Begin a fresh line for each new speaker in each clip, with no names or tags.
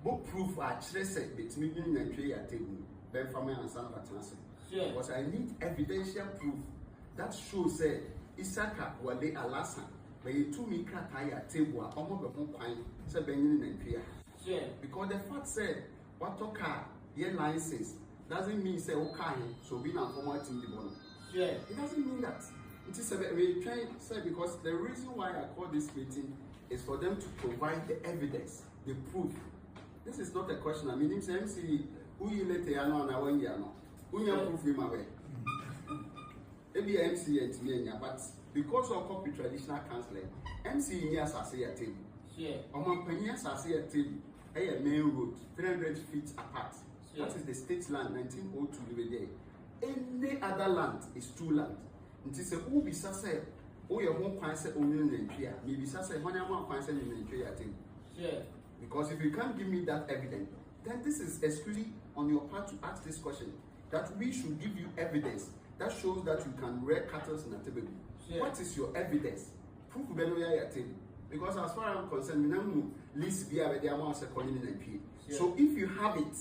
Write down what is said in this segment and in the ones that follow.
Bo proof a kyerɛ sɛ betumi nyi nantwie yɛ atɛgu bɛmfa ma ansa na watena ase. Because I need evidential proof that show sɛ Isaka Wale Alasa bɛyɛ tumi krataa yɛ atɛgu a ɔma bɛ ho kwan sɛ bɛnyene nantwie a. Because the fact sɛ watɔ car yɛ license doesn't mean sɛ wo car he sɛ obi nam fam a watumi de bɔ no. It doesn't mean that. Nti sɛ bɛ retwɛn sɛ because the reason why I call this meeting is for them to provide the evidence. the proof this is not a question ami nim sɛ mc woyi ne te ano anaa wɔyi ano wonya proof yi ma wɛ ebi yɛ mc yɛ ntumi anya but because of copy traditional counseling mc yi ni asase yɛ table ɔmo mpanyin asase yɛ table ɛyɛ main road three hundred feet apart that is the state land nineteen oh two bi bɛ yɛ any other land is two land. Nti sɛ wobisa sɛ woyɛ ho kwan sɛ onwene nantwi a, mebisa sɛ hwan ama kwan sɛ ne nantwi yɛ atem? Yeah. Because if you can't give me that evidence, then this is exclusively on your part to ask this question that we should give you evidence that shows that you can rear cattle in Atebebu. Yeah. What is your evidence? Proof bɛ no yɛ atem. Because as far as I'm concerned, we don't know list be a bɛ de ama ɔsɛ kɔnye ne nantwi. So if you have it,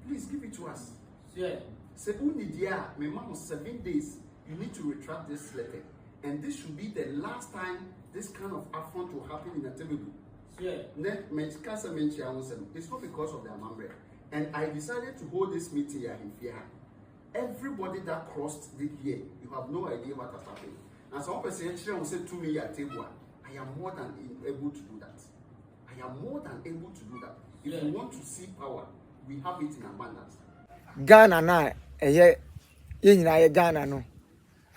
please give it to us. Sir. Sɛ wo nni deɛ a, me ma wo seven days, you need to retract this letter and this should be the last time this kind of affront will happen in Atebebu. Sir. Ne, me ka sɛ me nkyea ho sɛm, it's not because of the amammerɛ and I decided to hold this meeting yɛ ahemfie ha. Everybody that crossed the here, you have no idea what has happened. Na sɛ wɔpɛ sɛ yɛkyerɛ ho sɛ tumi yɛ Atebu a, I am more than able to do that. I am more than able to do that. If yeah. you want to see power, we have it in
abundance. Ghana na ɛyɛ yɛn nyinaa yɛ Ghana no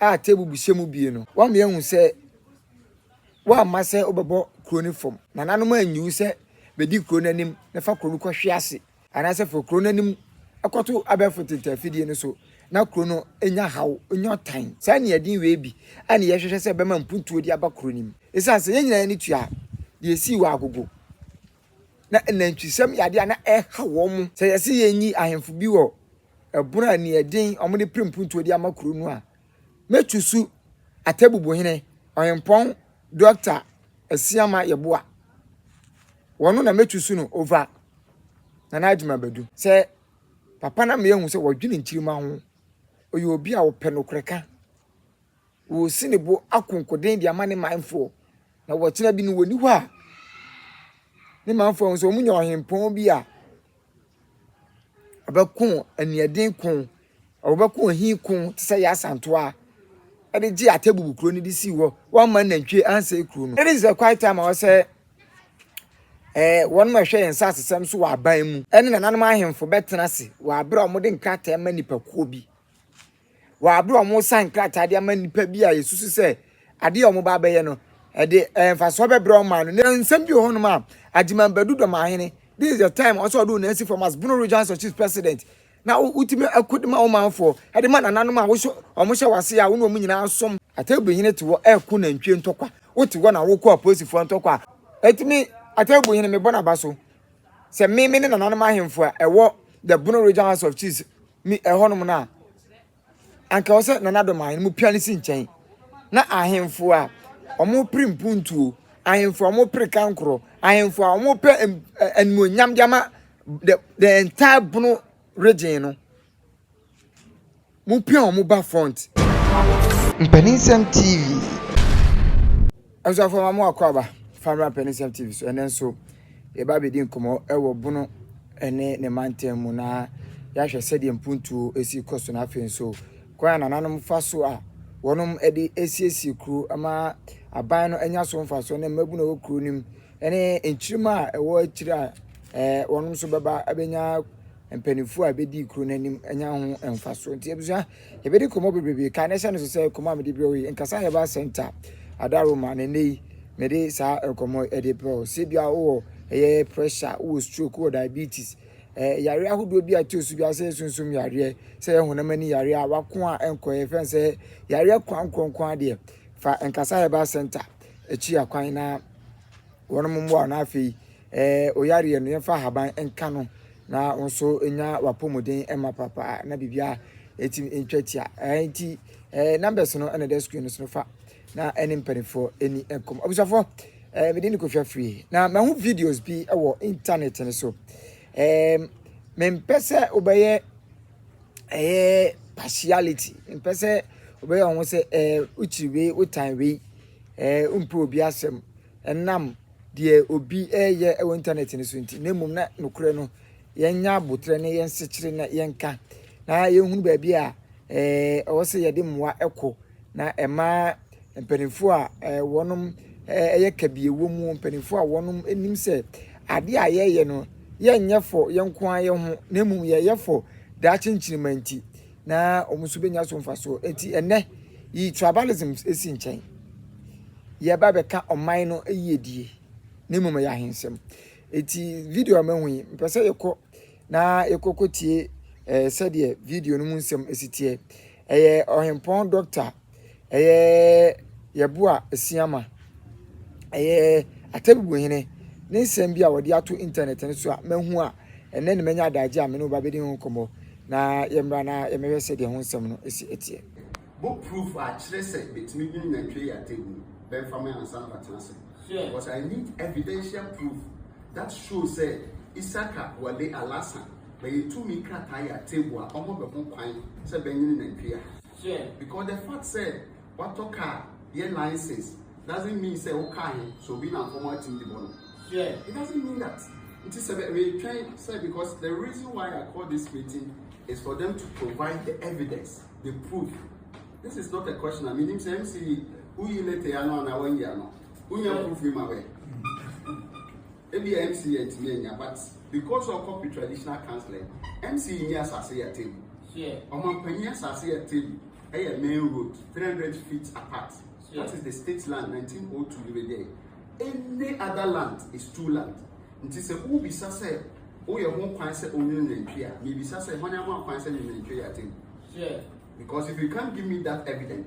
a tebu buhyɛ mu bie no wɔn yɛn hu sɛ wɔamma sɛ wɔbɛbɔ kuro no fam na nanom anyiwu sɛ bɛdi kuro no anim na fa kuro no kɔhwe ase Anaasɛ fa kuro no anim kɔto abɛɛfo ntenta afidie no so na kuro no nya haw, nya ɔtan. Saa aniɛden wei bi a na yɛhwehwɛ sɛ ɛbɛma mpuntuo de aba kuro no mu. Ɛsiane sɛ yɛn nyinaa ani tua a, deɛ ɛsii wɔ Agogo. Na anantwisɛm yɛ adeɛ a na ɛha wɔn. Sɛ yɛse yɛnyi ahemfo bi wɔ ɛbono a aniɛden wɔde pere mpuntuo de ama kuro no a, Metusu Atebubuhene Ɔhempɔn Doctor Asiamah Yeboah. Wɔno na metusu no over Nana Adjumah Badu. Sɛ papa na meahu sɛ wɔdwene nkyirimma ho. Ɔyɛ obi a ɔpɛ nokorɛ ka. Ɔresi ne bo akonkoden de ama ne manfoɔ. Na wɔkyena bi no wɔni hɔ a, ne manfoɔ ahu sɛ wɔnya ɔhempɔn bi a. Ɔbɛko aniɛden ko, ɔbɛko ohi ko te sɛ Yasantoa de gyee Atebubu kuro no de sii hɔ. Wamma nantwie ansɛe kuro no. It is the quiet time a wɔsɛ eh, wɔn a ɛhwɛ yɛn nsasesɛm so wɔ aban mu ne nananom ahemfo bɛtena ase wɔ abere a wɔde nkrataa ma nnipakuo bi wɔ bere a wɔresan krataa de ama nnipa bi a yɛsusu sɛ ade a wɔba abɛyɛ no, ɛde mfasoɔ bɛbrɛ wɔn maa no. Na nsɛm bi wɔ hɔnom a Agyeman Badu Dɔmahene, this is the time ɔsɛ ɔde wo nan asi fam as Bono Regional Sir Chiefs President, na wotumi ɛko de ma wo manfoɔ, ɛde ma nananom a wohyɛ wɔn hyɛ wase a wo ne wɔn nyinaa som. Atɛbuhene te hɔ ɛko nantwie ntɔkwa, wote hɔ na wokɔ apolisifoɔ ntɔkwa a, ɛtumi Atɛbuhene mebɔ n'aba so sɛ me me ne nananom ahemfo a ɛwɔ the Bono Regional House of Chiefs, Mi ɛhɔnom no a, anka ɛwɔ sɛ Nana Dom Ahene mopia no si nkyɛn, na ahemfo a wɔpere mpuntuo, ahemfo a wɔpere kankorɔ, ahemfo a wɔpɛ animuonyam de ama the, the entire Bono region no, mopia wɔn ba front. Mpaninsɛm TV. Abusuafo ma mo akwaaba fa mmra Pɛnisɛm TV so. Ɛnɛ nso, yɛba abɛdi nkɔmmɔ wɔ Bono ne ne mantam mu na yɛahwɛ sɛdeɛ mpuntuo si kɔ so na afei nso kwan a nananom fa so a wɔnom de asiesie kuro ama aban no anya so mfa so ne mmabunu a ɛwɔ kuro no mu ne nkyirima a ɛwɔ akyiri a ɛɛ wɔnom nso bɛba abɛnya mpanimfoɔ a ɛbɛdi kuro no anim anya ho mfa so nti abusua Yɛbɛdi nkɔmmɔ bebrebe. Kae na hyɛ no nso sɛ nkɔmmɔ a mede brɛ wo yi, nkasa a yɛbaa Center Ada Roma na nnɛ yi mede saa nkɔmmɔ yi de brɛ wo. Sɛ ebia wowɔ ɛyɛ pressure, wowɔ stroke, wowɔ diabetes, eh, yareɛ ahodoɔ bi a ɛtoo so biara sɛ sunsum yareɛ, sɛ ɛyɛ honam ani yareɛ a wako a ɛnkɔ yɛ fɛn sɛ yareɛ kwan nkonkron adeɛ. Fa nkasa a yɛbaa Center akyi akwan na wɔnom mmoa wo na afei Ɛɛ oyareɛ no yɛmfa ahaban nka no na wo nso nya w'apɔmuden ma papa na biribiara ɛtumi ntwa tia ɛɛ nti ɛɛ numbers no ɛna ɛda screen no so no fa na ɛne mpanimfoɔ ɛni nkɔm abusuafoɔ ɛɛ mede ne kofi afiri na mahu videos bi ɛwɔ internet no so ɛɛ mempɛ sɛ wobɛyɛ ɛyɛ partiality mpɛ sɛ wobɛyɛ wɔn sɛ ɛɛ wokyiri wei wotan wei ɛɛ wompɛ obi asɛm ɛnam deɛ obi reyɛ wɔ intanɛt no so nti na mmom na nokorɛ no yɛnya aboterɛ ne yɛnsekyere na yɛnka na yɛhunu baabi a ɛwɔ sɛ yɛde mmoa kɔ na ɛma mpanimfoɔ a wɔnom ɛyɛ kabie wɔ mu mpanimfoɔ a wɔnom nim sɛ adeɛ a yɛyɛ no yɛnyɛ fɔ yɛnko ara yɛn ho na mmom yɛyɛ fɔ daakye nkyirima nti na wɔn nso bɛnya so mfasoɔ. Enti ɛnnɛ, yi tribalism si nkyɛn. Yɛba bɛka ɔman no yiedie, ne mmom ɛyɛ ahensɛm. Enti video a mahu yi, mpɛ sɛ yɛkɔ na yɛkɔ kɔtie eh, sɛdeɛ video no mu nsɛm si teɛ. Ɛyɛ ɔhempɔn dɔkta. ɛyɛ yɛn bo a ɛsua ma ɛyɛ Atabibuhene ne nsɛm bi a wɔde ato intanɛt no so a mahu a ɛnɛ na manya adagye a me ne wo ba bɛdi ho nkɔmmɔ na yɛmmra na yɛmmɛhwɛ sɛ deɛ ho nsɛm no si ɛteɛ. Bɔ proof
a kyerɛ sɛ betumi nwene nantwie yɛ Atabi no bɛmfa ma ansa na watena ase. Because I need evidential proof that shows sɛ Isaka Wale Alhassan bɛyɛ tumi krataa yɛ Atabi a ɔma bɛ ho kwan sɛ bɛnwene nantwie a. Sure. Because the fact sɛ watɔ car yɛ license doesn't mean sɛ wo car he sɛ obi na nkɔmɔ atim de bɔ no. Sure. It doesn't mean that. Nti sɛ bɛ retwɛn sɛ because the reason why I call this meeting is for them to provide the evidence, the proof. This is not a question. I mean, sɛ MC, woyi late ano anaa wɔayi ano? Wonya proof ni ma wɛ. Ebia MC yɛ ntumi anya but because ɔ copy traditional counselling MC nyi asase yɛ table ɔmanpanyin asase yɛ table ɛyɛ main road three hundred feet apart that is the state land nineteen oh two de bɛgya yi any other land is two land nti sɛ wobisa sɛ woyɛ ho kwan sɛ onwene nantwi a mebisa sɛ hwan ama kwan sɛ ne nantwi yɛ table because if you can't give me that evidence.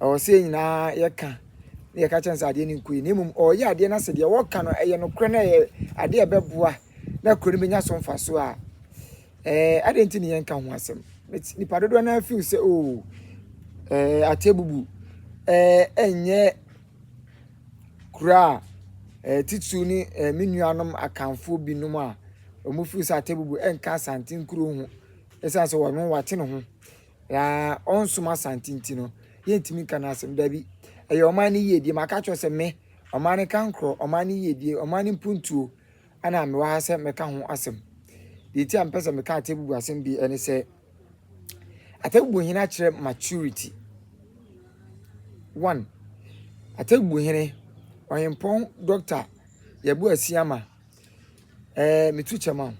Ɛwɔ sɛ yɛn nyinaa yɛka na yɛka kyerɛ no sɛ adeɛ no nkɔ yie na mmom ɔreyɛ adeɛ no sɛ deɛ wɔka no ɛyɛ nokorɛ na ɛyɛ adeɛ a ɛbɛboa na kuro no bɛnya so mfasoɔ a ɛɛ adeɛ nti ne yɛnka ho asɛm nipa dodoɔ no ara feel sɛ oo ɛɛ atebubu ɛɛ ɛnyɛ kuro a ɛɛ titiriw ne ɛɛ me nuanom akanfoɔ binom a wɔn feel sɛ atebubu ɛnka asante nkuro ho ɛsiane sɛ wɔn wate ne ho Na ɔnsom Asante nti no, yɛntumi nka no asɛm. Dabi, ɛyɛ ɔman no yiedie. Maka kyerɛ sɛ me, ɔman no kankorɔ, ɔman no yiedie, ɔman no mpuntuo, ɛna mewɔ ha sɛ mɛka ho asɛm. Deɛ nti a mepɛ sɛ meka Atebubu asɛm bi ne sɛ, Atebubu hene akyerɛ maturity. One, Atebubu hene, ɔhempɔn Dɔkta Yɛbo Asiama, ɛɛ metu kyɛm a.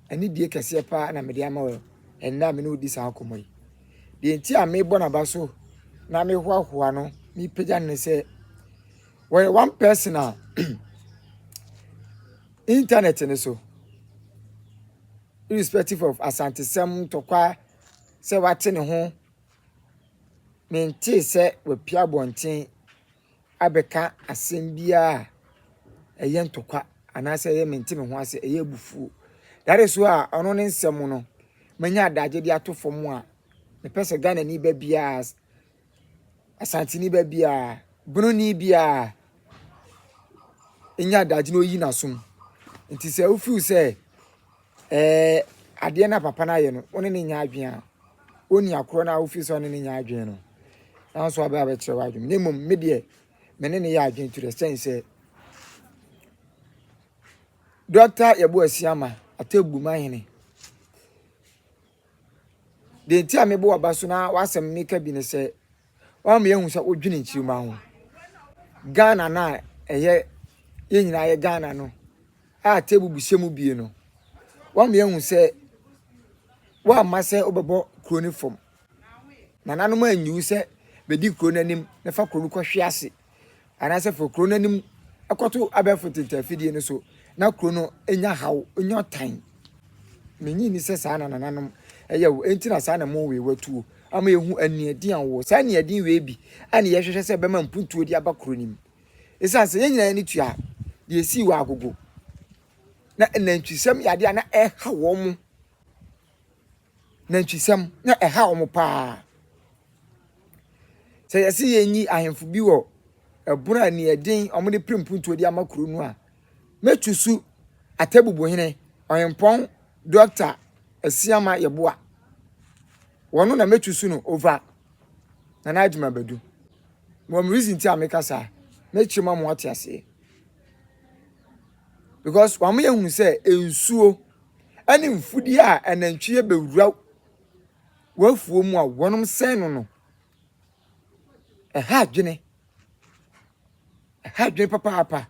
Anidie kɛseɛ pa ara na mede ama wo ɛnnɛ a me ne wo di saa nkɔmmɔ yi. Deɛ nti a mebɔ n'aba so na mehoahoa no, mepagya no ne sɛ, wɔyɛ one person a internet no so irrespective of asantesɛm ntɔkwa sɛ wate ne ho mentee sɛ wapia abɔnten abɛka asɛm biara a ɛyɛ ntɔkwa anaasɛ ɛyɛ mente me ho ase, ɛyɛ abufuo. That is why a ɔno ne nsɛm no, manya adagye de ato fam a mepɛ sɛ Ghanani ba biara, Asanteni ba biara, Benoni biara nya adagye na ɔyi n'asom. Nti sɛ wofeel sɛ Ɛɛ adeɛ no a papa no ayɛ no, wo ne no nyɛ adwene a, ɔnni akorɔ no a wofiri sɛ wo ne no nyɛ adwene no, na wo nso wabɛ abɛkyerɛ w'adwene. Na mmom, me deɛ, me ne no yɛ adwene to the extent sɛ, Dɔkta Yabu Asiama, Atebu Mahene, deɛ nti a mebɔ w'aba so na w'asɛm meka bi ne sɛ, Wama yɛahu sɛ wodwene nkyirimma ho. Ghana no a ɛyɛ yɛn nyinaa yɛ Ghana no a table buhyɛ mu bie no, wama yɛahu sɛ woamma sɛ wobɛbɔ kuro no fam. Nananom anyiwu sɛ bɛdi kuro no anim na fa kuro no kɔhwe ase. anaasɛ fa kuro no anim kɔto abɛɛfo ntentafidie no so na kuro no nya haw nya ɔtan menyi ni sɛ saa na nananom ɛyɛ wo enti na saa na mo wei watuo ama yɛhu aniɛden a wɔ saa aniɛden wei bi a ne yɛhwehwɛ sɛ bɛma mpuntuo de aba kuro no mu ɛsiane sɛ yɛn nyinaa yɛne tua deɛ ɛsii wɔ agogo na nantwisɛm yɛ adeɛ a na ɛha wɔn mo nantwisɛm na ɛha wɔn paa. Sɛ yɛse yɛnyi ahemfo bi wɔ ɛbono a nea ɛden wɔn de pere mpuntuo de ama kuro no a, mɛtu su Atebubuhene Ɔhempɔn Dɔkta Asiamah Yeboah. Wɔno na mɛtu su no over Nana Adjuma Badu. Mewɔ me reason nti a meka saa. Mɛkyerɛ mu ama wɔate aseɛ. because wɔn yɛ hu sɛ nsuo ɛne mfudeɛ a ɛnantwie bɛwura wɔafuo mu a wɔn sɛn no no ɛha adwene ɛha adwene papaapa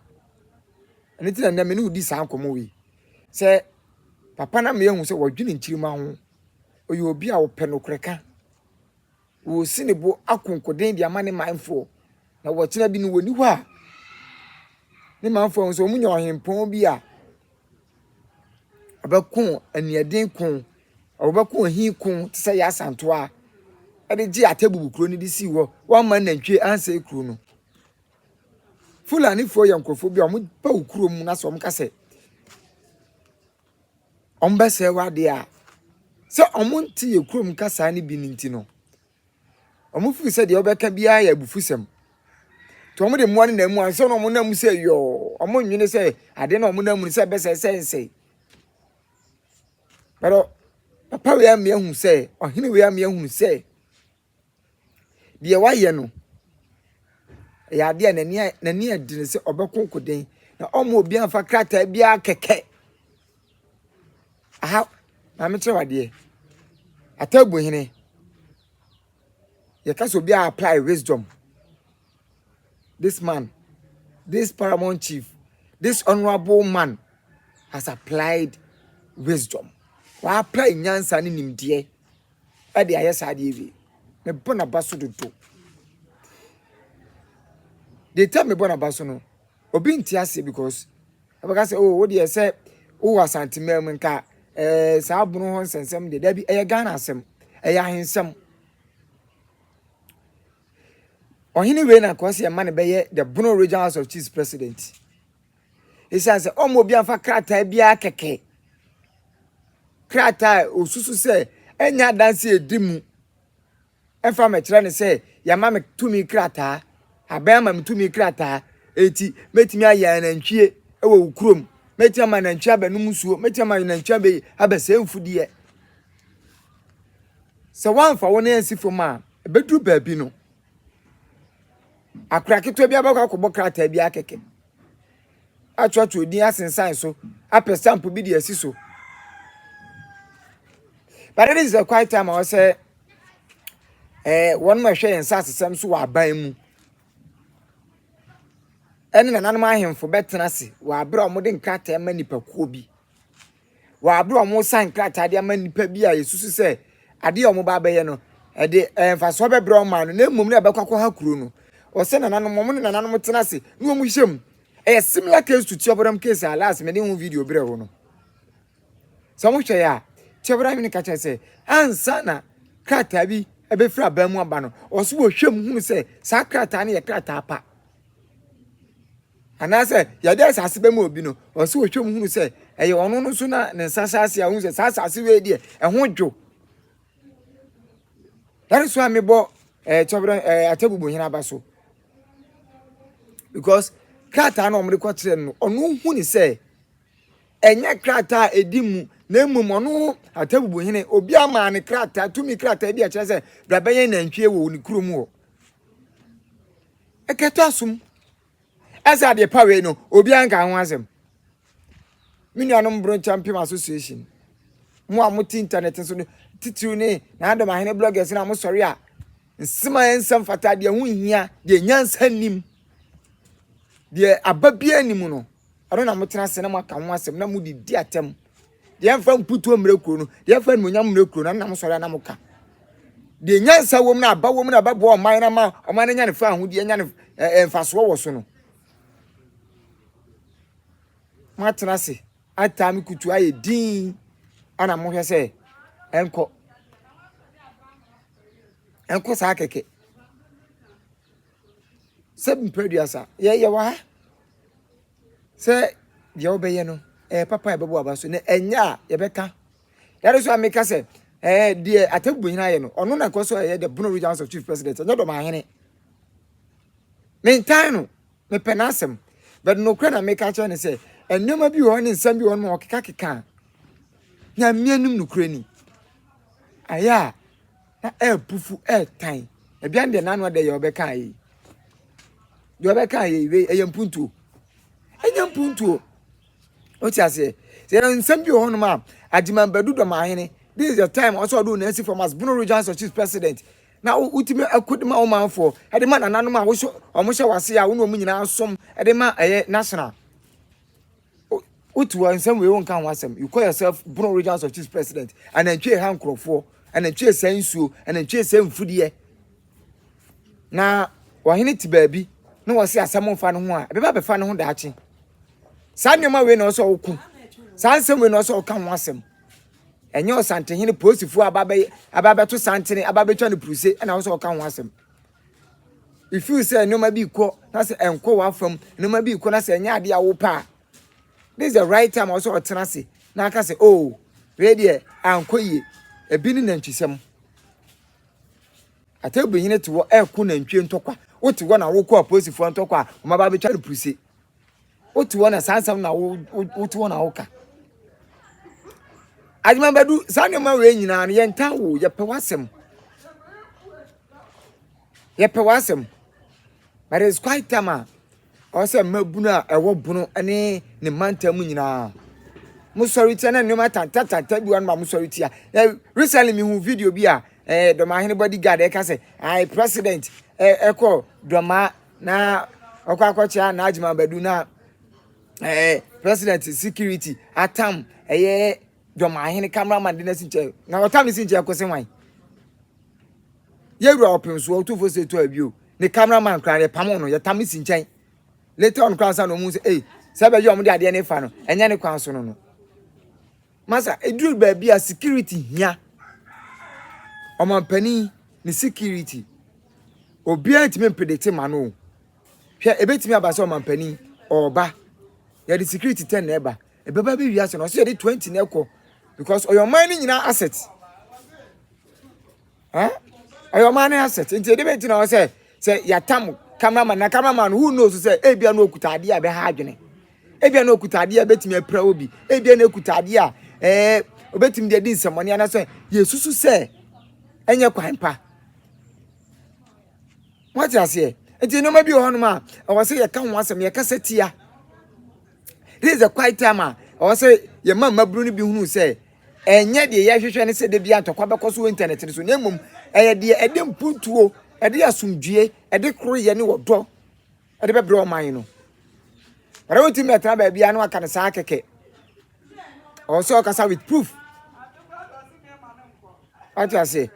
ɛno ti na nnɛmɛ ne wodi saa nkɔmɔ wei sɛ papa na meyɛ hu sɛ wɔdwene nkyirima ho ɔyɛ obi a ɔpɛ nokorɛ ka. Wɔresi ne bo akonkoden de ama ne manfoɔ, na wɔkyena bi no wɔnni hɔ a, ne manfoɔ nso wɔnya ɔhempɔn bi a ɔbɛko aniɛden ko, ɔbɛko ahi ko te sɛ Yasantoa de gye Atebubu kuro no de sii hɔ. Wɔamma nantwie ansɛe kuro no. Fulanifoɔ yɛ nkurɔfoɔ bi a wɔpaw kurom na sɛ wɔka sɛ wɔbɛsɛe w'adeɛ a, sɛ wɔnte yɛn kurom kasaa no bi no nti no, wɔfiri sɛ deɛ wɔbɛka biara yɛ abufusɛm. Nti wɔde mmoa no nam mu ansa na wɔnam mu sɛ yɔɔ, wɔnwene sɛ adeɛ na wɔnam mu no sɛ ɛbɛsɛe sɛ nsɛe. Bɛrɛ papa wei ama yɛahu sɛ, ɔhene wei ama yɛahu sɛ, Deɛ wayɛ no, ɛyɛ adeɛ a n'ani a n'ani yɛ den sɛ ɔbɛko nkoden na ɔma obi anfa krataa biara kɛkɛ aha maame kyerɛ wadeɛ ataabu hene yɛka sɛ obi a apply wisdom this man this paramount chief this honourable man has applied wisdom wa apply nyansa ne nimdeɛ. de ayɛ saa adeɛ wei mebɔ n'aba so dodo the time mebɔ n'aba so no obi nte aseɛ because ɛbɛka sɛ oh wo deɛ sɛ wowɔ asantemaa mu nka ɛɛ eh, saa abono hɔ nsɛnsɛm deɛ dabi ɛyɛ ghana asɛm ɛyɛ ahensɛm ɔhene wei na kɔsi ɛma no bɛyɛ the bono regional house of chiefs president. Esiane sɛ ɔmma obi amfa krataa biara kɛkɛ, krataa a osusu sɛ ɛnyɛ adanse a edi mu ɛfa mmɛkyerɛ no sɛ yɛama me tumi krataa, abɛn ama me tumi krataa, eti mɛtumi ayɛ anantwie wɔ wo kurom, mɛtumi ama anantwie abɛnom nsuo, mɛtumi ama anantwie abɛ abɛsɛe mfudeɛ. Sɛ wɔamfa wo nan ansi fam a, ɛbɛduru baabi no. akora ketewa bi abɛkɔ akɔbɔ krataa bi akɛkɛ akyerɛkyerɛ odin asensan so apɛ stamp bi de asi so but it is the quiet time a wɔsɛ ɛɛ wɔn ma ɛhwɛ yɛn nsa asesɛm so wɔ aban mu ɛne nananom ahemfo bɛtena ase wɔ abere a wɔde nkrataa ma nipakuo bi wɔ bere a wɔresan krataa de ama nnipa bi a yɛsusu sɛ ade a wɔba abɛyɛ no, ɛde ɛɛ mfasoɔ bɛbrɛ wɔn maa no, na mmom na ɛbɛkɔ akɔha kuro no. Wɔsɛ nananom, wɔn ne nananom tena ase na wɔn hyɛ mu. Ɛyɛ similar case to Tiɔbɔdam case a last mede ho video brɛ wo no. Sɛ wɔhwɛ yɛ a, Tiɔbɔdam hene ka kyerɛ sɛ ansa na krataa bi ɛbɛfiri aban mu aba no, wɔso wɔhwɛ mu hunu sɛ saa krataa no yɛ krataa pa. anaasɛ yɛde asase bɛma obi no ɔwɔ sɛ ɔhwɛ mu hunu sɛ ɛyɛ ɔno no so na ne nsa hyɛ ase a ohun sɛ saa asase wei deɛ ɛho dwo that is why mebɔ ɛɛ kyɛbrɛ ɛɛ atɛbubu hene aba so because krataa na wɔde kɔ kyerɛ no ɔno hu ne sɛ ɛnyɛ krataa a ɛdi mu na mmom ɔno atɛbubu hene obi ama ne krataa tumi krataa bi a kyerɛ sɛ brabɛyɛ nantwie wɔ ne kurom hɔ. ɛkata som ɛsɛ adeɛ pa wei no obiara nka ho asɛm me nuanom broncha mpem association mo a mote internet so no titiriw ne na adom ahene bloggers na mosɔre a nsɛm a ɛnsɛm fata deɛ ho nhia deɛ nyansa nim deɛ aba biara nim no Ɛno na motena ase na moaka ho asɛm na mode di atam. Deɛ ɛmfa mputuo mmerɛ kuro no, deɛ ɛmfa animuonyam mmerɛ kuro no, ɛno na mosɔre a na moka. Deɛ nyansa wom na aba wom na ɛbɛboa ɔman no ama ɔman no anya ne fa ahodeɛ, anya ne eh, mfasoɔ wɔ so no. Moatena ase ataa me kutu ayɛ din ana mohwɛ sɛ ɛnkɔ ɛnkɔ saa kɛkɛ. Sɛ mprɛ aduasa, yɛ yɛ wɔ ha. Sɛ deɛ wobɛyɛ no ɛyɛ papa a ɛbɛbɔ aba so na ɛnyɛ a yɛbɛka. That is why meka sɛ ɛɛ deɛ Atebubu hene ayɛ no ɔno na ɛkɔ so ɛyɛ the Bono Region House of Chief President ɛnyɛ dɔm ahene. Mentan no mepɛ n'asɛm but nokorɛ na meka kyerɛ ne sɛ nneɛma bi wɔ hɔ ne nsɛm bi wɔ hɔ no ma ɔkekakeka a nyame anim nokorɛ ni. Ayɛ a na ɛrepufu ɛretan ɛdeɛ deɛ n'ano ɛdɛ yɛ ɔbɛka ayɛ yi deɛ ɔbɛka ayɛ yi wei ɛyɛ mpuntuo ɛnyɛ mpuntuo o ti aseɛ sɛ yɛn nsɛm bi wɔ hɔnom a agyimambadu dɔmahene this is the time ɔsɛ ɔde wɔn asi fam as bono regional association president na wotumi akodi ma ɔmanfoɔ ɛde ma nananom a wɔhyɛ wɔn hyɛ wɔ ase a wɔn na wɔn nyinaa som ɛde ma ɛyɛ national. Wotu hɔ nsɛm wei wonka ho asɛm you call yourself Bono regional of chiefs president anantwie ɛha nkorɔfoɔ anantwie sɛ nsuo anantwie sɛ mfudeɛ na ɔhene te baabi na wɔse asɛm mfa no ho a ɛbɛba bɛfa no ho daakye saa nneɛma wei na ɔsɛ ɔko saa nsɛm wei na ɔsɛ ɔka ho asɛm ɛnyɛ ɔsantehene polisifoɔ aba bɛyɛ aba bɛto santene aba bɛtwa no puruse ɛna ɔsɛ ɔka ho asɛm you feel sɛ nneɛma bi kɔ na sɛ ɛnkɔ w'afam nneɛma bi kɔ na sɛ ɛnyɛ adeɛ a wopɛ a this is the right time ɔsɛ ɔtena ase na aka sɛ oh wei deɛ ankɔ yie ebi ne nantwisɛm atabihene te hɔ ɛko nantwie ntɔkwa wote hɔ na wokɔ apolisifoɔ ntɔkwa a wɔn aba abɛtwa no puruse. wote hɔ na saa nsɛm na wote hɔ na woka adwuma bɛdu saa nneɛma wei nyinaa no yɛntan wo yɛpɛ w'asɛm yɛpɛ w'asɛm but it's quite time a ɔwɔ sɛ mmabunu a ɛwɔ bono ne ne mantam mu nyinaa mosɔre tia na nneɛma tantatanta bi wa no ma mosɔre tia na recently mehu video bi a eh, dɔmahene bodyguard ɛka sɛ i president ɛkɔ eh, eh, dɔmaa na ɔkɔ akɔkyea Najm Abadu na ɛɛ eh, president security atam ɛyɛ dɔmahene cameraman de n'asi nkyɛn na ɔtam ne si nkyɛn kɔsi hwan yɛwura ɔpem so ɔtufo se to abio ne cameraman kora yɛ pam no yɛtam ne si nkyɛn later on kora nsa na ɔmu sɛ ei sɛ bɛyɛ ɔmo de adeɛ ne fa no ɛnyɛ ne kwan so no no Masa ɛduru baabi a security hia. Ɔmampanin ne security. Obiara ntumi mpredete ma no o. Hwɛ ɛbɛtumi aba sɛ ɔmampanin ɔreba. Yɛde security 10 na ɛba. Ɛbɛba bɛwie ase no ɔsɛ yɛde 20 na ɛkɔ because ɔyɛ ɔman no nyinaa asset. Eh? Ɛyɛ ɔman no asset. Nti ɛde bɛti na ɔwɔ sɛ sɛ yɛatam cameraman na cameraman no who knows sɛ ebia na okuta adeɛ a ɛbɛha adwene. Ebia na okuta adeɛ a ɛbɛtumi apira obi. Ebia na okuta adeɛ a ɛɛ obɛtumi de adi nsɛmmɔne anaasɛ yɛsusu sɛ ɛnyɛ kwan pa. Moate aseɛ? Nti nneɛma bi wɔ hɔnom a ɛwɔ sɛ yɛka ho asɛm yɛkasa tia. This is the quiet time a ɔwɔ sɛ yɛma mmabunu no bi hunu sɛ Ɛnyɛ deɛ yɛhwehwɛ ne sɛ da biara ntɔkwa bɛkɔ so wɔ intanɛt no so, na mmom ɛyɛ deɛ ɛde mpuntuo, ɛde asomdwoeɛ, ɛde koroyɛ ne ɔdɔ ɛde bɛbrɛ ɔman no. Ɛdɛ wontumi bɛtena baabi a na waka no saa kɛkɛ. Ɔwɔ sɛ ɔkasa with proof. Wate aseɛ?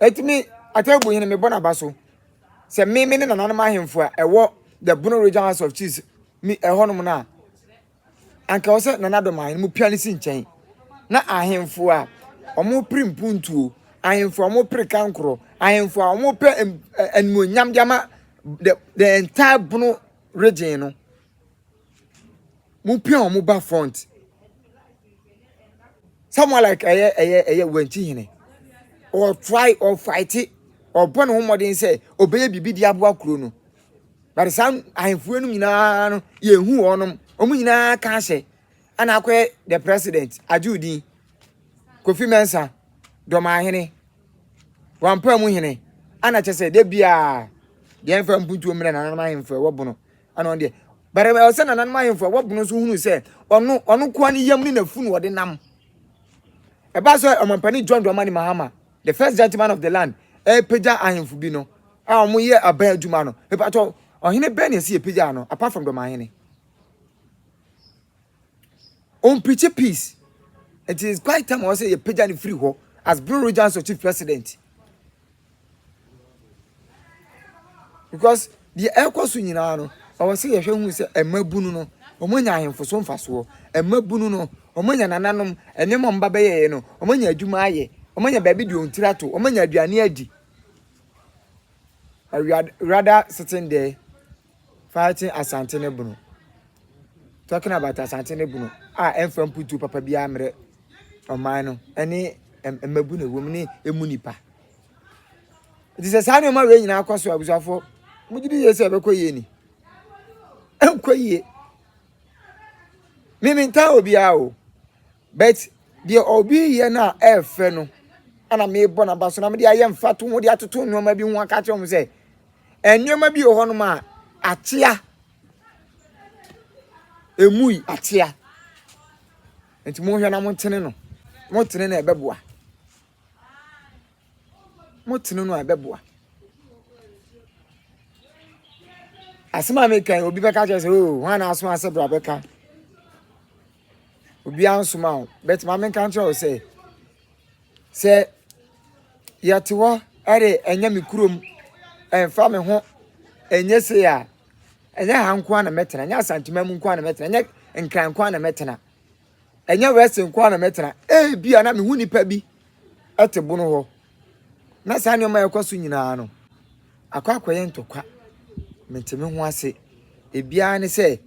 Enti me, Atebu hene, mebɔ n'aba so sɛ me me ne nananom ahemfo a ɛwɔ the Bono Region House of Chiefs mi ɛhɔnom no a anka ɔsɛ nana dɔm ahene mu pia ne si nkyɛn na ahemfo a wɔn pere mpuntuo ahemfo a wɔn pere kankorɔ ahemfo a wɔn pɛ animuonyam de ama the the entire Bono region no mo pia wɔn ba front someone like ɛyɛ ɛyɛ ɛyɛ wɛnkyi hene ɔtry ɔfaite ɔbɔ ne ho mmɔden sɛ ɔbɛyɛ biribi de aboa kuro no bade saa ahemfoɔ no nyinaa no yɛhu wɔnom wɔn nyinaa ka ahyɛ ɛna akɔyɛ the president agye odin kofi mɛnsa dɔmaa hene wampa mu hene ɛna kyɛ sɛ da biaa deɛ mfa mpuntuo mmerɛ nananom ahemfoɔ ɛwɔ bono Ɛno deɛ, but ɛwɔ sɛ nananom ahemfo a wɔbɔ no nso hunu sɛ ɔno ɔno koa ne yam ne n'afunu ɔde nam. Ɛbaa sɛ ɔmampanin John Dramani Mahama, the first gentleman of the land, ɛrepagya ahemfo bi no a wɔyɛ aban adwuma no. Mepatɔ, ɔhene bɛn na ɛsi yɛpagyaa no apart from Dɔmahene? Ɔmpirikyi peace. Nti it's quite time ɔsɛ yɛ pagya no firi hɔ as Blue Regions of Chief President. Because deɛ ɛkɔ so nyinaa no, ɔwɔ sɛ yɛhwɛ hu sɛ ɛma bunu no, wɔn anya ahemfo so mfasoɔ. Ɛma bunu no, wɔn anya nananom, nneɛma wɔn ba bɛyɛɛ no, wɔn anya adwuma ayɛ, wɔn anya baabi deɛ wɔn tiri ato, wɔn anya aduane adi. Rather sitting there. Fighting Asante ne Bono. Talking about Asante ne Bono a ɛmfa mputuo papa biara mmerɛ ɔman no ne mmabu na ɛwɔ mu ne ɛmu nnipa. Nti sɛ saa nneɛma wei nyinaa akɔ so abusuafoɔ mogye di yie sɛ ɛbɛkɔ yie ni. Ɛnkɔ yie. Mimi ntaa obiara o. But deɛ obi yɛ no a ɛɛfɛ no ɛna mebɔ n'aba so na mede ayɛ mfatoho de atoto nneɛma bi ho aka kyerɛ wɔn sɛ Nneɛma bi wɔ hɔnom a akyea. Emui akyea. Nti monhwɛ na montene no. Motene no a ɛbɛboa. Motene no a ɛbɛboa. Asɛm a meka yi obi bɛka kyerɛ sɛ oo wɔn a na aso ase bra bɛka. Obiara nsoma o. Bɛtuma menka nkyerɛ wo sɛ. sɛ yɛte hɔ ɛde ɛnyɛ me kurom ɛnfa me ho ɛnyɛ se a ɛnyɛ ha nko na mɛtena ɛnyɛ asantuma mu nko na mɛtena ɛnyɛ nkran nko na mɛtena ɛnyɛ wɛsi nko na mɛtena ebi a na me ho nipa bi ɛte bono hɔ na saa nneɛma ɛkɔ so nyinaa no akɔ akɔyɛ ntɔkwa mete me ho ase ebiara ne sɛ.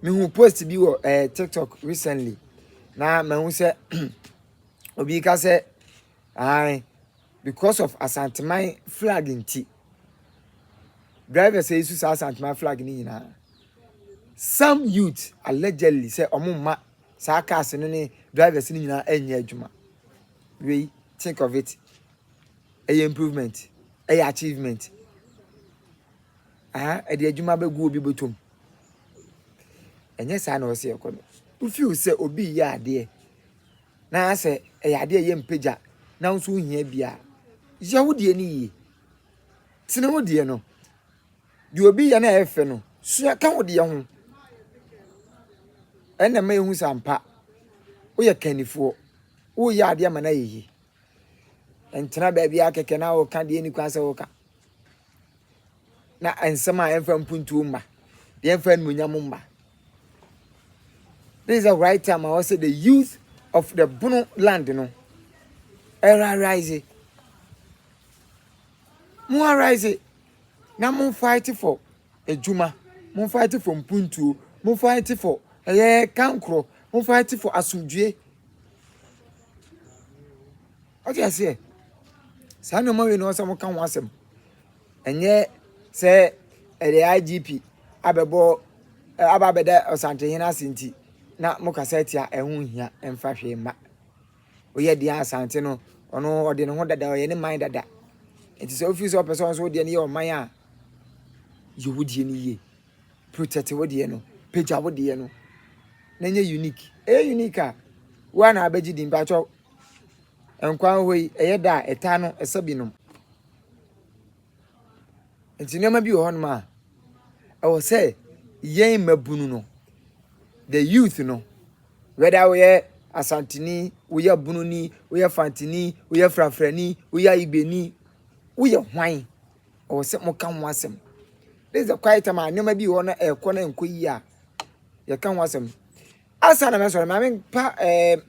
mehu post bi wɔ eh, tiktok recently na mahu sɛ obi ka sɛ ae because of asanteman flag nti drivers yi so saa asanteman flag no nyinaa some youth allegedly sɛ ɔmo mma saa cars no ne drivers no nyinaa ɛnyɛ adwuma wei think of it ɛyɛ improvement ɛyɛ achievement Aha ɛde adwuma abɛgu obi bɔtɔ mu. Ɛnyɛ saa na ɔsɛ ɛkɔ no. Wofiw sɛ obi yɛ adeɛ na sɛ ɛyɛ adeɛ yɛ mpagya na nso wohia bi a, yɛ wo deɛ no yie. Tene wo deɛ no. Deɛ obi yɛ no a ɛfɛ no, sua ka wo deɛ ho. Ɛna ma ehu sɛ ampa woyɛ kannifoɔ, woyɛ adeɛ ma no ayɛ yie. Ntena baabi ara kɛkɛ na woka deɛ ɛni kwan sɛ woka. Na nsɛm a ɛmfa mpuntuo mma, deɛ ɛmfa animuonyam mma. This is the right time I was the youth of the Bono land no. Era rise. Mo arise. Now mo fight for adwuma, mo fight for mpuntuo, mo fight for ɛyɛ kankorɔ, mo fight for asomdwoe. Ɔte aseɛ, saa nneɛma wei na ɔsɛ mo ka ho asɛm. Ɛnyɛ sɛ ɛde IGP abɛbɔ aba abɛda ɔsantehene ase nti na mo kasa atia ɛho hia ɛmfa hwee mma. Oyɛ deɛ Asante no ɔno ɔde ne ho dada ɔyɛ ne man dada. Nti sɛ ofiri sɛ ɔpɛ sɛ ɔnso deɛ no yɛ ɔman a yɛ wo deɛ no yie. Protect wo deɛ no. Pagya wo deɛ no. Na nyɛ unique. Ɛyɛ unique a wo a na abɛgye di mpakyɛw. Nkwa hɔ yi ɛyɛ da a ɛtaa no ɛsɛ binom. Nti nneɛma bi wɔ hɔnom a, ɛwɔ sɛ yɛn mmabunu no, the youth no, whether woyɛ Asanteni, woyɛ Bununi, woyɛ Fantini, woyɛ Frafrani, woyɛ Ibeni, woyɛ hwan, ɛwɔ sɛ moka ho asɛm. This is the quiet time a nneɛma bi wɔ hɔ na ɛrekɔ na ɛnkɔ yie a, yɛka ho asɛm. Asa na mɛsɔre, maame mpa ɛɛ,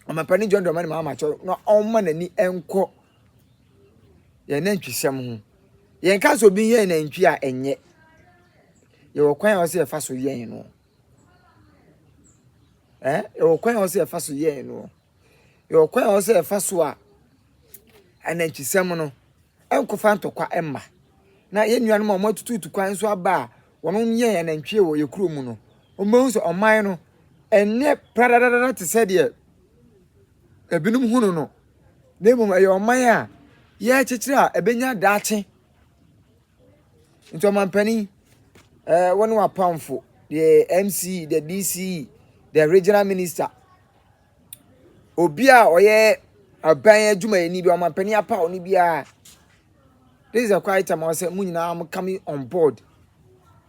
ɔmampanin John Dramani Mahama kyɛw na ɔmma n'ani nkɔ Yɛn nantwisɛm ho. Yɛnka sɛ obi yɛn nantwi a ɛnyɛ. Yɛwɔ kwan a ɔsɛ yɛfa so yɛn no. Eh, yɛwɔ kwan a ɔsɛ yɛfa so yɛn no. Yɛwɔ kwan a ɔsɛ yɛfa so a anantwisɛm no ɛnkɔfa ntɔkwa ɛmma. Na yɛn nuanom a wɔatututu kwan nso aba a wɔn yɛn anantwie wɔ yɛ kuro mu no, wɔn bɛhu sɛ ɔman no ɛnyɛ pradadada te sɛ deɛ ebinom hunu no, na mmom ɛyɛ ɔman a yɛrekyekyere a ɛbɛnya daakye. Nti ɔmampanin, eh, wɔne wapamfo, the MC, the DC, the regional minister, obi a ɔyɛ aban adwumayɛni bi ɔmampanin apaw no biara this is a quiet time ɔsɛ mo nyinaa mo come on board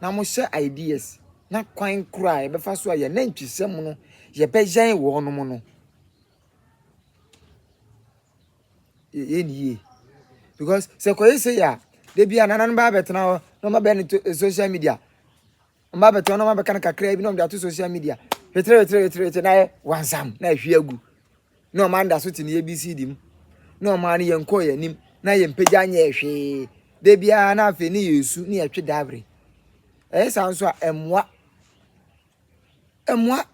na mo hyɛ ideas Na kwan koro a yɛbɛfa so a yɛn anantwisɛm no yɛbɛyɛn wɔn mo no yɛ yɛ ne yie because sɛ kɔyɛ sɛ yɛ a da bi a nananom bɛyɛ abɛtena hɔ na ɔma bɛn ne to eh, social media ɔma abɛtena hɔ na ɔma bɛka no kakra bi na ɔmde ato social media wetere wetere wetere wetere na ayɛ wansam na ahwie agu na wɔn anidaso te ne ABCD mu, na wɔn ara ne yɛn kɔɔ yɛn anim, na yɛn mpagya nyɛɛ hwee, da biara na afei ne yɛsu ne yɛtwe dawere. Ɛyɛ saa nso a, ɛmmoa. Ɛmmoa.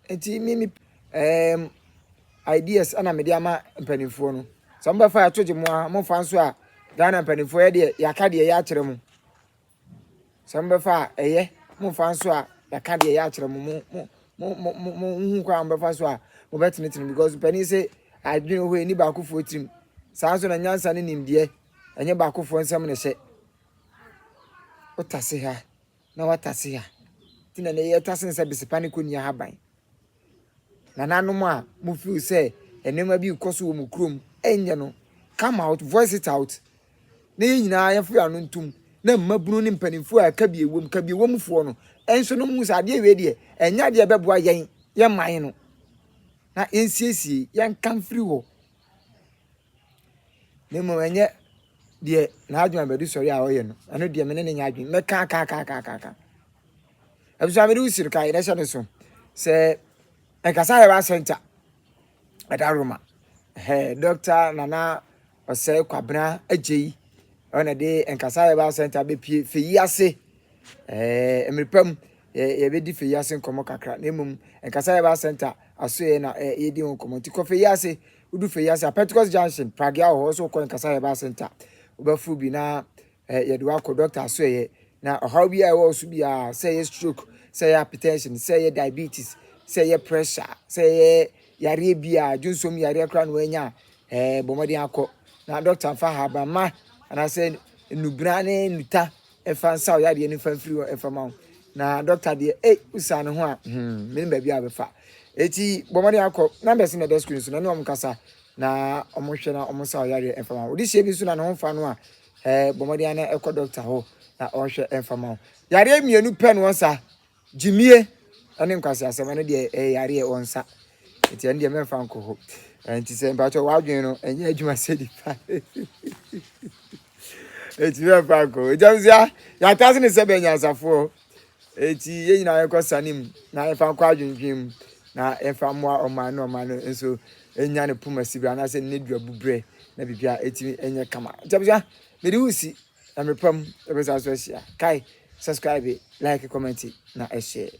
Nti me me um, ideas ɛna mede ama mpanimfoɔ no. Sɛ mobɛfa yɛto gye mo a, mofa nso a, Ghana mpanimfoɔ yɛ deɛ yɛaka deɛ yɛakyerɛ mo. Sɛ mobɛfa a, ɛyɛ. Mommfa nso a, yɛaka deɛ ɛyɛ akyerɛ mo. Mo, mo, mo, mo, mo nhu kwan a mobɛfa so a mobɛtenetene because panin se adwene hɔ ɛni baakofoɔ tirim. Saa nso na nyansa ne nimdeɛ ɛnyɛ baakofoɔ nsɛm na ɛhyɛ. Wotase ha na watase ha. Nti na ɛnɛ yɛtase nsɛ besepa ne kɔnni ahaban. Nananom a mo feel sɛ nneɛma bi rekɔ so wɔ mo kurom nyɛ no, come out, voice it out na yɛn nyinaa yɛn firi ano ntom na mmabunu ne mpanimfoɔ a ɛka bi ɛwɔ mu, ka bi ɛwɔ mu foɔ no nso no mu sɛ adeɛ wei deɛ ɛnyɛ adeɛ a ɛbɛboa yɛn, yɛn man no na yɛn siesie, yɛn nka mfiri hɔ na mmom ɛnyɛ deɛ n'adwene abɛdu sɔre a ɔyɛ no, ɛno deɛ me ne ne nyɛ adwene, mɛka aka aka aka aka. abusua mede usiri ka yɛn ɛhyɛ ne so sɛ ɛkasa yɛ ba center ɛda roma hɛ dɔkta nana ɔsɛ kwabena agye yi ɔna de nkasa yɛ ba center bɛpie fɛyi ase ɛɛ mmerepɛ mu yɛbɛdi fɛyi ase nkɔmɔ kakra na mmom nkasa yɛ ba center asoɛ na yɛdi ho nkɔmɔ nti kɔ fɛyi ase wodu fɛyi ase a pentecost junction pragea wɔ hɔ so kɔ nkasa yɛ ba center wobɛfo bi na Eh, yɛde wo akɔ doctor asoɛeɛ, na ɔhaw biara a ɛwɔ wo so biara, sɛ ɛyɛ stroke, sɛ ɛyɛ hypertension, sɛ ɛyɛ diabetes, sɛ ɛyɛ pressure, sɛ ɛyɛ yareɛ biara, dwonsɔm yareɛ koraa na woanya a, eh, bɔ mmɔden akɔ. Na doctor mfa ahabanmma anaasɛ nnubena ne nnuta mfa nsa wo yadeɛ no mfa mfiri hɔ mfa ma wo. Na doctor deɛ, ei, wosaa ne ho a, hmm, menim baabi a wobɛfa. Eti bɔ mmɔden akɔ. Numbers no na ɛda screen so, na ne wɔn nkasa na wɔn hwɛ na wɔn nsa wo yareɛ mfa ma wo. Wode hyɛ bi nso na ne ho mfa no a, Ɛɛ, bɔ mmɔden ara na kɔ dɔkta hɔ na ɔnhwɛ mfa mma wo. Yareɛ mmienu pɛ na wɔn sa, gyimie ne nkwaseasɛm. Ɛno deɛ ɛyɛ yareɛ wɔn sa. Nti ɛno deɛ mɛmfa nkɔ hɔ. Nti sɛ mpakyɛ w'adwene no ɛnyɛ adwuma sɛ nipa. Nti mɛmfa nkɔ hɔ. Nti ɛno sɛ yɛatase ne sɛ bɛnyansafoɔ. Enti yɛn nyinaa yɛnkɔ sane mu na yɛmfa nkɔ adwendwen mu na yɛmfa mmoa ɔman no ɔman no nso nya ne poma si berɛ anaasɛ ne duabu berɛ na biribia ɛtumi ɛnyɛ kama nti abusua mede wo si na mepam yɛbɛsa so ahyia kae subscribe like comment na ɛhyɛ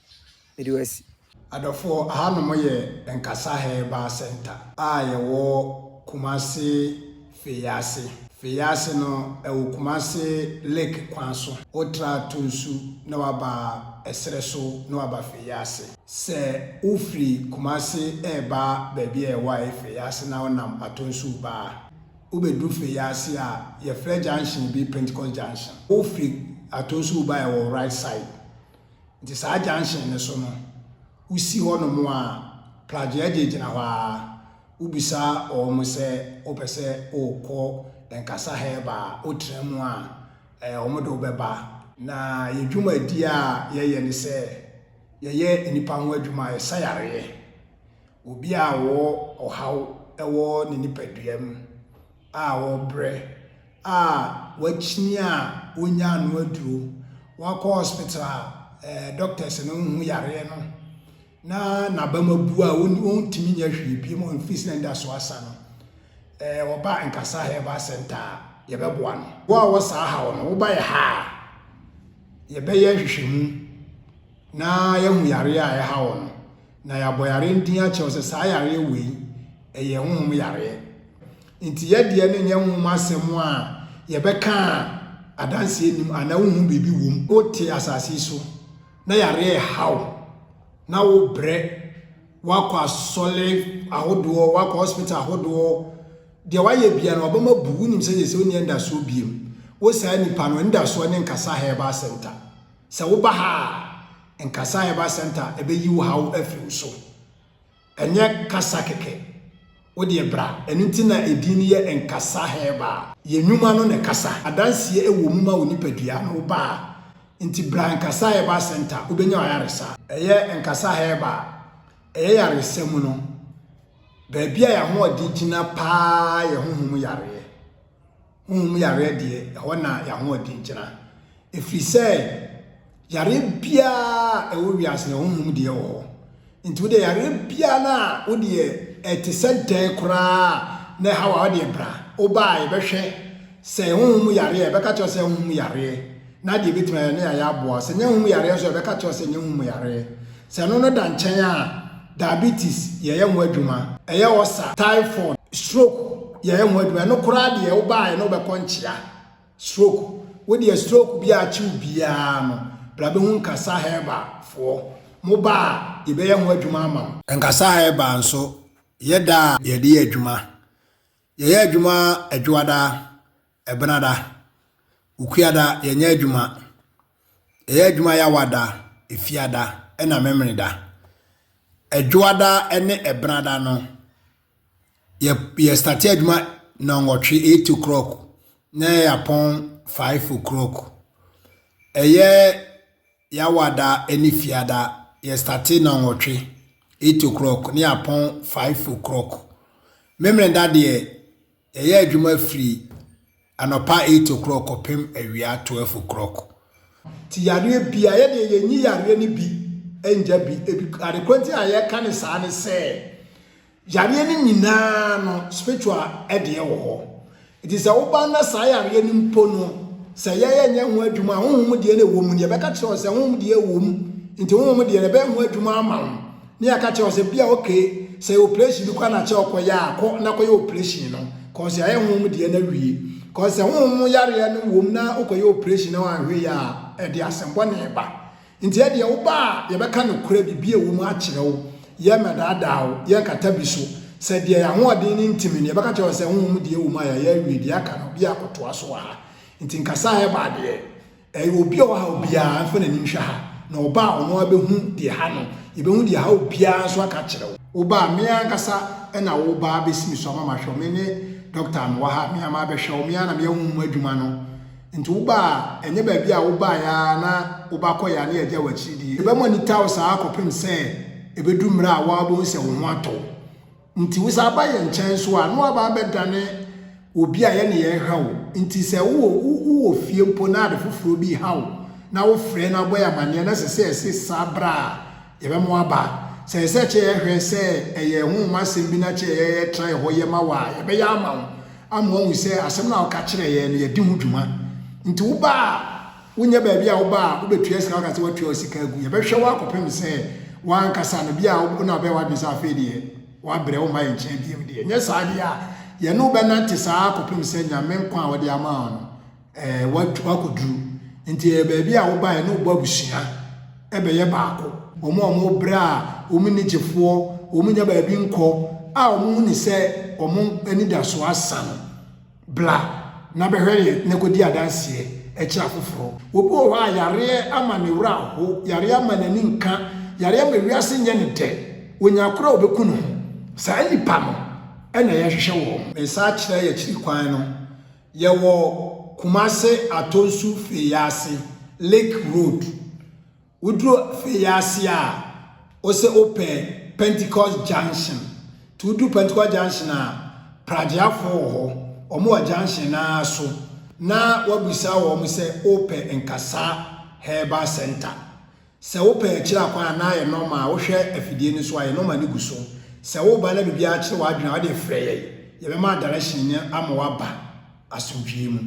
mede wo asi Adɔfoɔ,
ahanom yɛ Nkasa Herbal Centre a yɛwɔ Kumasi Feyaase. Feyaase no, ɛwɔ Kumasi Lake kwan so. Wo tra Tunsu na waba ɛserɛ so na waba Feyaase. Sɛ wo firi Kumasi reba baabi a yɛwɔ a ɛyɛ Feyaase na wo nam Atonsuo ba a, wo bɛ duru Feyaase a, yɛ frɛ junction bi Pentecost Junction. Wo firi Atonsuo ba a ɛwɔ right side. Nti saa junction no so no, wosi hɔ nom a, Plagyeɛgye gyina hɔ ara, wobisa wɔn sɛ wopɛ sɛ wokɔ Nkasa Herba a, wotra mu a, eh, wɔn de wo bɛba. Na yɛ dwumadie a yɛyɛ ne sɛ, yɛyɛ nnipa ho adwuma, yɛsa yareɛ. Obi a ɔwɔ ɔhaw wɔ ne nipadua mu. a wɔbrɛ, a wɔakyini a wonnyaa ano aduro, wakɔ hospital a ɛɛ doctors no nhu yareɛ no na n'abam abu a wɔntumi nyɛ hwee bi mu mfiri sɛ nda so asa no, ɛɛ wɔba nkasa herbal center a yɛbɛboa no. Wo a wɔ saa haw no, woba yɛ ha a yɛbɛyɛ nhwehwɛmu na yɛahu yareɛ a ɛha wo no. na yɛabɔ yare no din akyerɛ wo sɛ saa yareɛ wei ɛyɛ honhom yareɛ nti yɛdeɛ no nyɛ honhom asɛm a yɛbɛka a adanseɛ nim anaa wohu biribi wom wote asase yi so na yareɛ haw na wobrɛ woakɔ asɔre ahodoɔ woakɔ hospital ahodoɔ deɛ woayɛ bia no ɔbɛma bu wonim sɛ yɛ sɛ wonni ɛndasoɔ biem wo saa nipa no ɛndasoɔ ne nkasa herbal center Sɛ woba ha a, Nkasa Herbal Centre ɛbɛyi wo haw afiri wo so. Ɛnyɛ kasa kɛkɛ. Wo deɛ bra. Ɛno nti na edin no yɛ Nkasa Herbal. Yɛn nnwuma no na ɛkasa. Adanseɛ ɛwɔ mu ma wo nipadua no, woba a. Nti bra Nkasa Herbal Centre, wobɛnya w'ayaresa. Ɛyɛ Nkasa Herbal. Ɛyɛ yaresa mu no, baabi a yɛn ahoɔden gyina pa ara yɛ honhom yareɛ. Honhom yareɛ deɛ, ɛhɔ na y'ahoɔden gyina. Ɛfiri sɛ, yareɛ biara a ɛwɔ wiase no, honhom deɛ wɔ hɔ. Nti wodeɛ yareɛ biara no a wodeɛ ɛte sɛ dɛn koraa a na ɛha wo a, wodeɛ bra. Wobaa yɛbɛhwɛ sɛ honhom yareɛ a, yɛbɛka kyerɛ wo sɛ honhom yareɛ. Na deɛ ɛbɛtumi ayɛ ne ayɛ aboa wo. Sɛ ɛnyɛ hom yareɛ nso a, yɛbɛka akyerɛ wo sɛ ɛnyɛ hom yareɛ. Sɛ ɛno no da nkyɛn a, diabetes, yɛyɛ ho adwuma. Ɛyɛ ulcer, typhoid, stroke, yɛyɛ ho adwuma. Ɛno koraa deɛ, wobaeɛ no wobɛkɔ nkyea. Stroke, wo deɛ stroke bi a akye wo biara no, bra bɛhu Nkasa Herbal foɔ. Moba a, yɛbɛyɛ ho adwuma ama wo. Nkasa Herbal nso, yɛ da a yɛde yɛ adwuma. Yɛyɛ adwuma Adwoada, Ɛbenada, Okuada, yɛnyɛ adwuma. Yɛyɛ adwuma Yawada, Efiada, ɛna Memeneda. Ɛdwoada ne Ɛbenada no, yɛ yɛ starte adwuma nɔnwɔtwe eight o'clock na yɛ apɔn five o'clock. Ɛyɛ Yawada ne Fiada, yɛ starte nɔnwɔtwe eight o'clock na yɛ apɔn five o'clock. Memeneda deɛ, Yɛyɛ adwuma firi anɔpa eight o'clock kɔpem awia twelve o'clock. Ti yareɛ bia yɛ deɛ yɛnyi yareɛ no bi ngya bi. Ebi adekorɔ nti a yɛka ne saa ne sɛ yareɛ no nyinaa no spiritual ɛdeɛ wɔ hɔ. Nti sɛ woba na saa yareɛ no mpo no sɛ yɛyɛ nyɛ ho adwuma a honhom deɛ na ɛwɔ mu no yɛbɛka kyerɛ wo sɛ honhom deɛ ɛwɔ mu nti honhom deɛ no ɛbɛyɛ ho adwuma ama wo. Ne yɛaka kyerɛ wo sɛ bia okay sɛ operation bi kora na kyɛ ɔkɔyɛ a kɔ na kɔyɛ operation no cause yɛayɛ honhom deɛ no awie cause sɛ honhom mu yareɛ no wom na wokɔyɛ operation na wanhwɛ yɛ a ɛde asɛmbɔne ba nti ɛdeɛ woba a yɛbɛka nokorɛ biribi a ɛwɔ mu akyerɛ wo yɛmmɛdaadaa wo yɛnkata bi so sɛ deɛ yɛahoɔden no ntimi no yɛbɛka kyerɛ wo sɛ honhom deɛ ɛwɔ mu a yɛayɛ awie deɛ aka no bia kɔtoa so wɔ ha nti nkasa a ɛba adeɛ Ɛyɛ obi a ɔhaw biara, mfa n'ani nhwɛ ha, na ɔba a, ɔno ara bɛhu deɛ ɛha no. Yɛbɛhu deɛ ɛha obiara nso aka akyerɛ wo. Wo ba a, me ankasa na wo ba abɛsi me so ama mahwɛ wo. Me ne dɔkta a mewɔ ha, me ara mabɛhwɛ wo. Me ara na meyɛ honhom adwuma no. Nti wo ba a, ɛnyɛ baabi a wobaeɛ ara na wo ba kɔeɛ a na yɛagya wo akyiri deɛ. Yɛbɛma no tao saa ara kɔpem sɛ ɛbɛduru mmerɛ a wo ara wobɛhu sɛ wo ho atɔ wo. Nti wo san ba yɛn nkyɛn nso a, na woaba abɛdane obi a yɛne yɛn ha o. Nti sɛ wowɔ wowɔ fie mpo na ade foforɔ bi reha wo na wofrɛ na wobɔ yɛn amaneɛ na ɛsɛ sɛ yɛse san bra a, yɛbɛma woaba. Sɛ ɛsɛ sɛ kyɛ yɛhwɛ sɛ ɛyɛ ɛho ho asɛm bi na kyɛ yɛ yɛtra yɛ hɔ yɛ ma wo a, yɛbɛyɛ ama wo ama woahu sɛ asɛm no a woka kyerɛɛ yɛn no, yɛde ho dwuma. Nti woba a, Wonyɛ baabi a woba a wobɛtua sika woka sɛ woatua wo sika agu. Yɛbɛhwɛ wo akɔpem sɛ woankasa no bia wo na wobɛyɛ w'adwene sɛ afei deɛ woabrɛ womma yɛn nkyɛn biom deɛ. Nyɛ saa deɛ a yɛne wo bɛnante saa ara kɔpem sɛ Nyame nkwa a ɔde ama wo no eh, woakɔduru. Nti ɛyɛ baabi a woba a yɛne wo bɔ abusua ɛbɛyɛ baako. Wɔn a wɔn brɛ a wɔn nni gyefoɔ, wɔn nnya baabi nkɔ a wɔn hunu sɛ wɔn anidasoɔ asa no. Bra na bɛhwɛ yɛn na kɔdi adanseɛ kyerɛ afoforɔ. Obi wɔ hɔ a yareɛ ama ne werɛ aho, yareɛ ama n'ani nka, yareɛ ama wiase nyɛ no dɛ, ɔnya akorɔ a ɔbɛku ne ho. Saa nnipa no na yɛhwehwɛ wɔn. Me nsa kyerɛ yɛn akyiri kwan no, yɛwɔ Kumase Atonsu Fei ase, Lake Road. Woduru afei yi ase a, wose wopɛ Pentecost junction. Nti woduru Pentecost junction a, pragyeafoɔ wɔ hɔ. Wɔn wɔ junction no ara so na wabisa wɔn sɛ wopɛ Nkasa Herbal Center. Sɛ wopɛ akyire akwan a, na ayɛ normal. Wohwɛ afidie no so a, yɛ normal no gu so. Sɛ woreba na biribiara akyere w'adwene a, wodeɛ frɛ yɛn. Yɛbɛma direction no ama woaba asomdwoeɛ mu.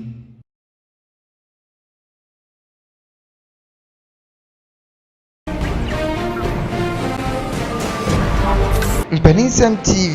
Mpaninsɛm TV.